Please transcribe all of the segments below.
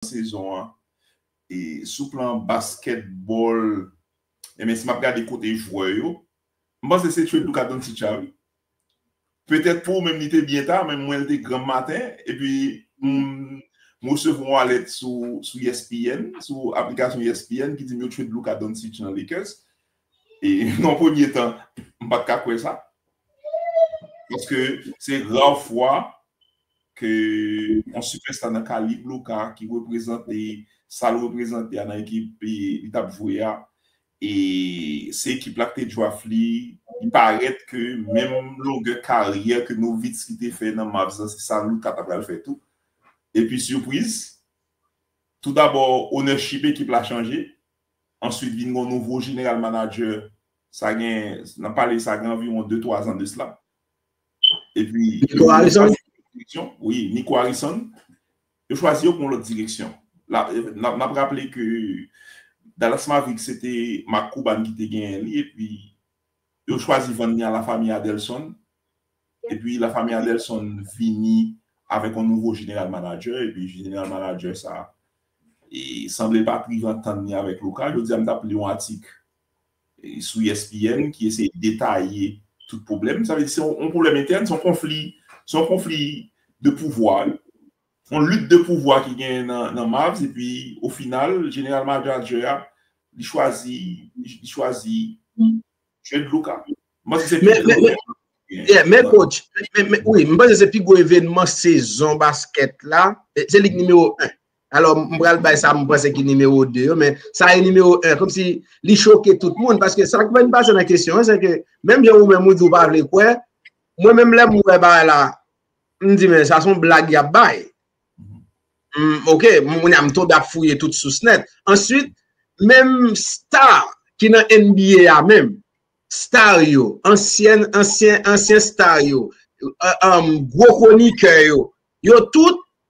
sezon an e sou plan baskètbòl enben si map gade kote jwè yo m panse se Tchedouka Doncic la wi petèt pou ou menm li te byen ta men mwen li te granm maten epi m resevwa yon alèt sou ESPN sou aplikasyon ESPN ki di m yo Tchedlouka Doncic nan Lakers e nan premye tan m pat ka kwè sa paske se ra fwa ke yon sipèsta nan kalib Luka ki reprezante sa l reprezante a nan ekip li t ap jwe a e se ekip la ki te draft li, li parèt ke menm longè karyè ke Nowitzki te fè nan Mavs la se sa Luka ta pral fè tou. Epi sipriz, toudabò ownership ekip la chanje, answit vin gen yon nouvo jeneral manadjè sa gen, n ap pale sa gen anviwon de twazan de sla. E pi, Niko Harrison? Wi, Niko Harrison. Yo chwazi yo pou yon lòt direksyon. N ap raple ke Dallas Mavericks se te Mark Cuban ki te genyen li e pi yo chwazi vann li a La Famille Adelson. E pi La Famille Adelson vini avèk yon nouvo jeneral manadjè e pi jeneral manadjè sa a sanble l pa t rive antann li avèk Luka. Jodi a m t ap li yon atik sou ESPN ki eseye detaye tout pwoblèm, sa vle di se yon pwoblèm entèn, se yon konfli, se yon konfli de pouvwa, yon lit de pouvwa ki genyen nan Mavs epi o final jeneral manadjè a li chwazi, li chwazi trade Luka. M panse se pi gwo evènman. Yeah, men coach, wi, m panse se pi gwo evènman sezon baskèt la, se lig nimewo 1. Alò m pral bay sa m panse ki nimewo 2 yo men sa e nimewo 1 kom si li choke tout moun paske sa k fè m pase nan kesyon an se ke menm jan ou menm ou di ou pa vle kwè mwen menm lè m wè bagay la m di men sa son blag y ap bay ok moun a m tonbe ap fouye tout sous nèt answit menm star ki nan NBA a menm star yo ansyen ansyen ansyen star yo gwo konikè yo yo tout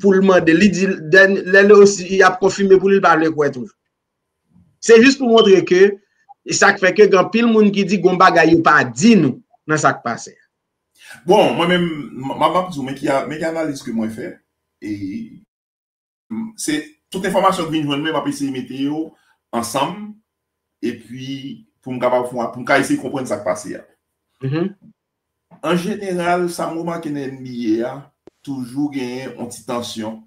pou l mande li di lè l osi y ap konfime pou li l pa vle kwè toujou se jis pou montre ke e sa k fè ke gen anpil moun ki di gon bagay yo pa di nou nan sa k pase a. Bon mwen menm m ap di w men ki men ki analiz ke mwen fè e. Se tout enfòmasyon k vin jwenn mwen m ap eseye mete yo ansanm epi pou m kapab pou m ka eseye konprann sa k pase a An jeneral, sa m remake nan NBA a, toujou genyen yon ti tansyon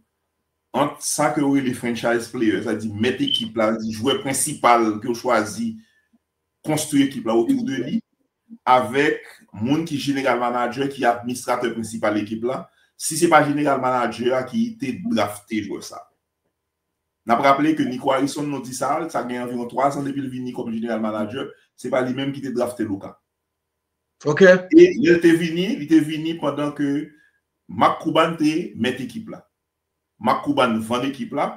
ant sa ke yo rele franchise player, sa vle di mèt ekip la, jwè prensipal ke yo chwazi konstwi ekip la otou de li, avèk moun ki jeneral manadjè, ki administratè prensipal ekip la, si se pa jeneral manadjè a ki te drafte jwè sa. N ap raple ke Nico Harrison, nou di sa, sa gen anviwon 3 zan depi l vini kòm jeneral manadjè, se pa li menm ki te drafte Luka. Ok. E lè l te vini, li te vini pandan ke Mark Cuban te mèt ekip la. Mark Cuban vann ekip la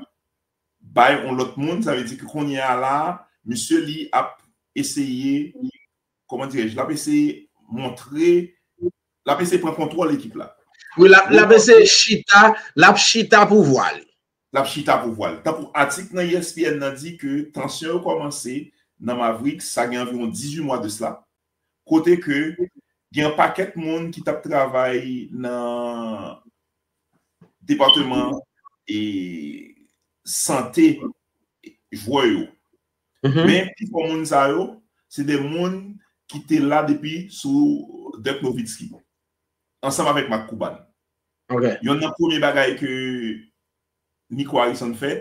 bay yon lòt moun, sa vle di ke kounye a la a, misye li ap eseye, kòman dirè-je, l ap eseye montre, l ap eseye pran kontwòl ekip la. Wi, l ap eseye chita, l ap chita pouvwa li. l ap chita pouvwa l. Tankou atik nan ESPN nan di ke tansyon yo kòmanse nan Mavericks sa gen anviwon 18 mwa de sla, kote ke gen yon pakèt moun ki t ap travay nan depateman sante jwè yo. Men pifò moun sa yo se de moun ki te la depi sou Dirk Nowitzki. Ansanm avèk Marc Cuban. Ok. Yonn nan premye bagay ke Nico Harrison fè,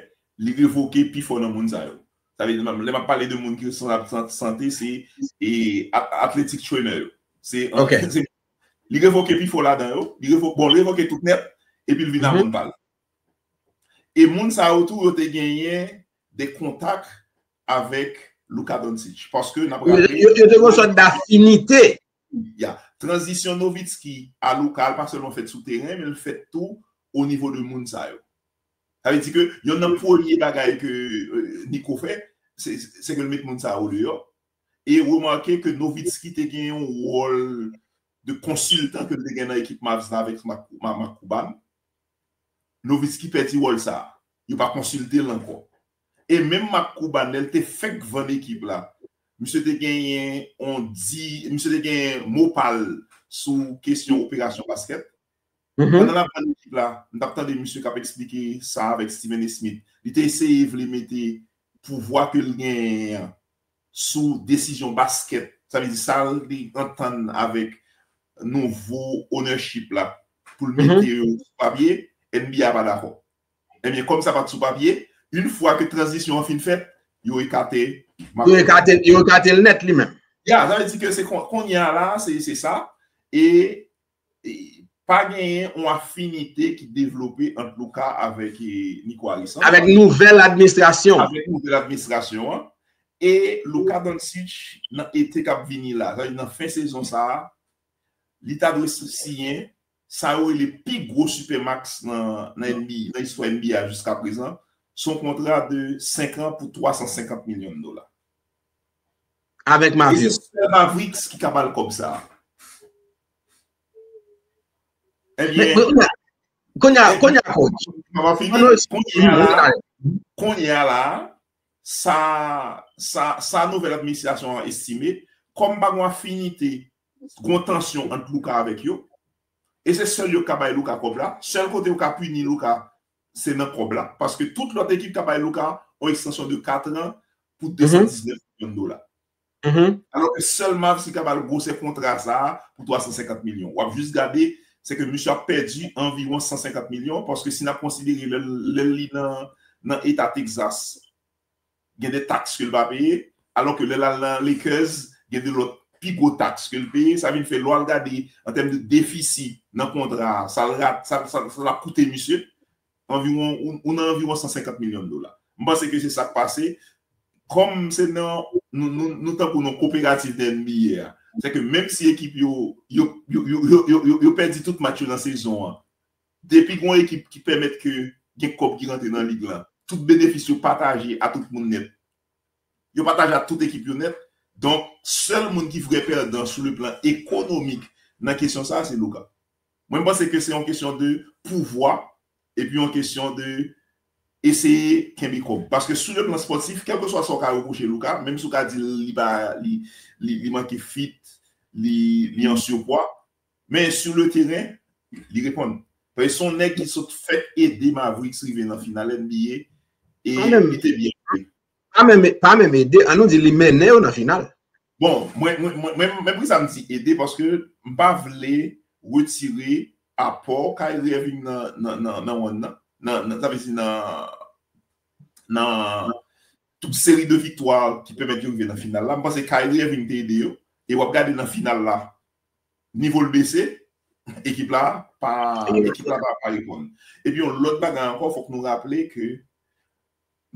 li revoke pi fò nan moun sa yo. Sa vle di, lè m'ap pale de moun ki san sante, se athletic trainer yo. Se, Ok. Li revoke pi fò ladan yo. Li revoke, bon, li revoke tout nèt, epi li vin a moun pa l. E moun sa yo tou, yo te genyen de kontak avèk Luka Doncic. Paske, n'ap raple. Yo te gen yon sòt d'afinite. Ya. Tranzisyon Nowitzki a lokal pa sèlman fèt sou teren, men l fèt tou o nivo de moun sa yo. Sa vle di ke yonn nan premye bagay ke Nico fè, se ke l met moun sa yo deyò. E remake ke Nowitzki te gen yon wòl de konsiltan ke l te gen nan ekip Mavs la avèk Mark Cuban. Nowitzki pèdi wòl sa a. Yo pa konsilte l ankò. E menm Marc Cuban lè l te fèk vann ekip la, misye te genyen yon di, misye te genyen mo pa l sou kesyon operasyon baskèt. Pandan l ap vann ekip la, m t ap tande misye k ap eksplike sa avèk Stephen A. Smith. Li te eseye vle mete pouvwa ke l genyen an sou desizyon baskèt, sa vle di sa l te antann avèk nouvo ownership la pou l mete yo sou papye, NBA pa dakò. Ebyen kòm sa pat sou papye, yn fwa ke tranzisyon an fin fèt, yo ekate Marc Lomé. Yo ekate l nèt li menm. Ya, sa vle di ke se kounye a la, se sa, e pa genyen yon afinite ki devlope ant Louca avèk Nico Alexandre. Avèk nouvèl administrasyon. Avèk nouvèl administrasyon an. E Luka Doncic nan ete kap vini la, sa vle di nan fen sezon sa a, li ta dwe siyen Sa yo rele pi gwo Supermax nan nba, nan istwa nba a jiska prezan, se yon kontra de 5 an pou 350 milyon dola. Avèk Mavs. E se sèl Mavericks ki ka ba l kòb sa a. Ebyen. Kounye a, kounye a coach. Mwen pa fini. Kounye a la, sa nouvèl administrasyon an estime, kòm pa gen yon afinite Gon tansyon ant Luca avèk yo e se sèl yo k ka bay Luca kòb la, sèl kote yo ka pini Luca se nan kòb la paske tout lòt ekip ta bay Luca yon ekstansyon de 4 an pou 219 milyon dola. Alò ke sèl Mavs ki ka ba l gwosè kontra sa a pou 350 milyon. W ap jis gade se ke misye ap pèdi anviwon 150 milyon paske si n ap konsidere lè li nan eta Texas gen de taks ke l pa peye, alò ke lè l al nan Lakers, gen de lòt pi gwo taks ke l peye. Sa vin fè lè w al gade an tèm de defisi nan kontra a, sa l rate, sa l ap koute misye, anviwon, ou nan anviwon 150 milyon dola. M panse ke se sa k pase. Kòm se nan, nou tankou nan koperativ nan NBA a, sèke menm si ekip yo, yo, yo, yo, yo pèdi tout match yo nan sezon an, Depi gon ekip ki pèmèt ke gen kòb ki rantre nan lig lan, tout benefis yo pataje a tout moun nèt. Yo pataje a tout ekip yo nèt. Donk, sèl moun ki vrè pèdan sou le plan ekonomik nan kesyon sa a se Loga. Mwen m panse ke se yon kesyon de pouvwa epi yon kesyon de eseye kenbe kòb. Paske sou le plan spòtif, kèlkeswa sa w ka repwoche Loga, menm si w ka di l li pa li manke fit, li an surpwa, Men sou le teren, li reponn. Paske se yon nèg ki sot fèk ede Mavericks rive nan final NBA e li te byen jwe. Pa menm ede, an nou di li mennen yo nan final. Bon, mwen, mwen, men poukisa m di ede, paske m pa vle retire apò Kyrie Irving nan wonn nan, nan, sa vle di nan, nan tout seri de viktwa ki pèmèt yo rive nan final la. M panse Kyrie Irving te ede yo e w ap gade nan final la, Nivo l bese, ekip la pa reponn. Epi yon lòt bagay ankò, fòk nou raple ke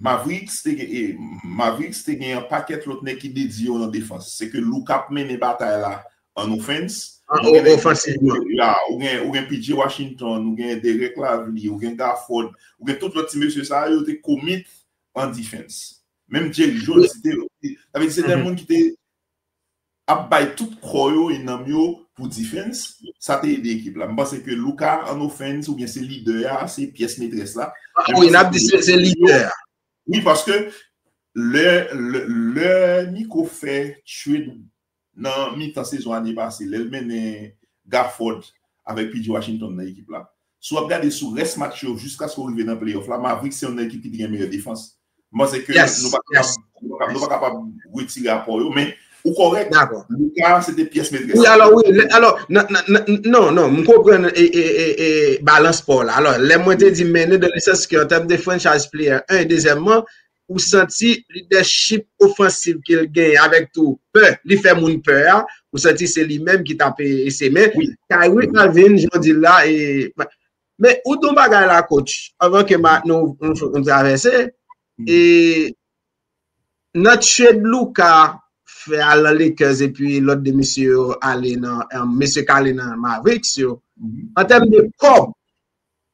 Mavericks te gen yon pakèt lòt nèg ki dedye yo nan defans. Se ke Luka ap mennen batay la an ofens. Ou gen PJ Washington, ou gen Derek Lavli, ou gen Gafford, ou gen tout lòt ti mesye sa yo te komit an defans. Menm Jake Jones, se te moun ki te ap bay tout kò yo e nanm yo pou defense, sa te ede ekip la. M panse ke Luka an offense oubyen se lidè a, se pyès metrès la. Ah wi, nap di se lidè a. Wi, paske lè lè Nico fè trade nan mitan sezon ane pase, lè l mennen Gafford avèk PJ Washington nan ekip la, si w ap gade sou rès match yo jiskaske w rive nan playoff la, Mavericks se youn nan ekip ki te gen meyè defans. M panse ke nou pa kapab, nou pa kapab retire apò yo, men ou kòrèk, Luca se te pyès metrès la. Wi alò, wi, alò, non, non, m konprann balans pa w la. Alò, lè mwen te di mennen dan le sans ke an tèm de franchise player, 1 e dezyèmman, ou santi lidèchip ofansiv ke l genyen avèk tou pè, li fè moun pè a, ou santi se li menm ki t ape ese men, Kyrie Irving, jan w di l la, Men, ou di yon bagay la, coach, anvan ke nou travèse, e nan trade Luka fè al nan Lakers epi lòt de mesye yo ale nan, mesye k ale nan Mavericks yo, an tèm de kòb,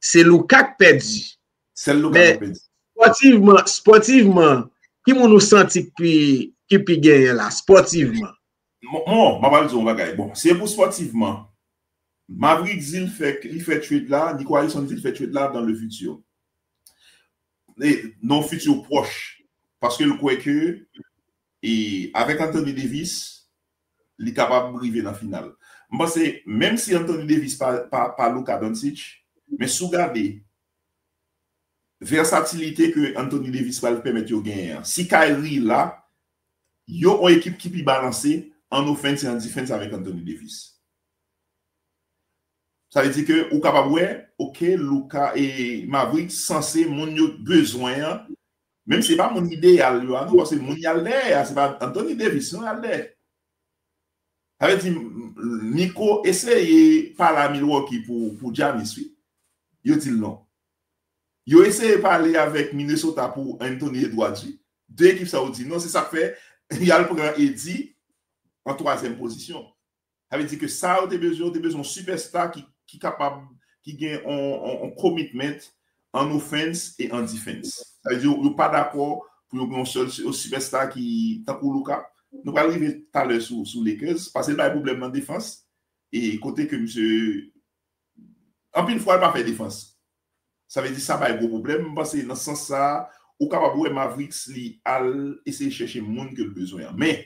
se Luka k pèdi. Sèl Luka k pèdi. Sportivman, sportivman, ki moun ou santi ki pi genyen la, sportivman? Bon, m apral di w yon bagay. Bon, se pou sportivement, Maverick di l fè li fè trade la, Nico Harrison di l fè trade la dans le futur. Nan yon futur pwòch. Paske l kwè ke e avèk Anthony Davis, li kapab rive nan final. M panse menm si Anthony Davis pa Luka Doncic, men si w gade versatilite ke Anthony Davis pral pèmèt yo genyen an. Si Kyrie la, Yon on ekip ki pi balanse an offense e an defense avèk Anthony Davis. Sa vle di ke ou kapab wè ok Luka e Mavericks sanse moun yo bezwen an, menm si se pa moun ideyal yo a non paske moun yal dèyè a se pa Anthony Davis non yal dèyè. Sa vle di Nico eseye pale a Milwaukee pou Giannis wi. Yo di l non. Yo eseye pale avèk Minnesota pou Anthony Edwards wi. 2 ekip sa yo di non se sak fè yal pran Eddy an twazyèm pozisyon. Sa vle di ke sa yo te bezwen yo te bezwen yon sipèsta ki kapab ki gen yon commitment an offense e an defense. Sa vle di yo pa dakò pou yo gen yon sèl sipèsta ki tankou Luka. Nou pral rive talè sou Lakers pase l bay pwoblèm nan defans e kote ke misye anpil fwa l pa fè defans. Sa vle di sa bay gwo pwoblèm, m panse nan sans sa a ou kapab wè Mavericks li al eseye chèche moun ke l bezwen an. Men,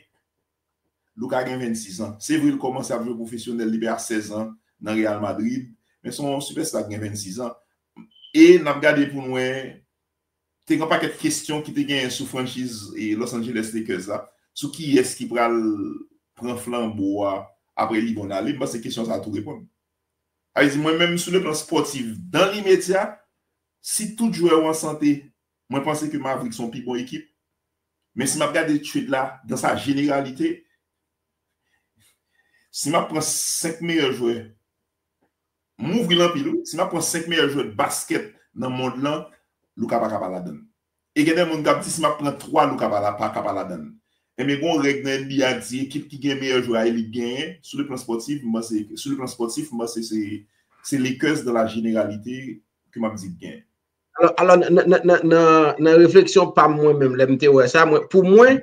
Luka gen 26 an. Se vre l kòmanse ap jwe pwofesyonèl depi a 16 an nan Real Madrid, men se yon sipèsta ki gen 26 an e n ap gade pou n wè te gen yon pakèt kesyon ki te genyen sou franchiz Los Angeles Lakers la, sou kiyès ki pral pran flanbo a apre LeBron ale, m panse kesyon sa a tou reponn. Ayiti mwen menm sou le plan spòtif dan limedya si tout jwè yo an sante mwen panse ke Mavrik son pi bon ekip men si map gade trade la dan sa jeneralite si map pran 5 meyè jwè m ouvri l anpil wi si map pran 5 meyè jwè baskèt nan mond lan Luka paka pa ladann E gen de moun kap di si map pran 3 look apa la paka pa ladann. Ebyen gon règ nan NBA k di ekip ki gen meyè jwè a elik k genyen, sou le plan spòtif m panse ke sou le plan spòtif m panse se se Lakers dan la jeneralite ke map di k genyen. Alò nan refleksyon pam mwen menm lèm te wè sa mwen pou mwen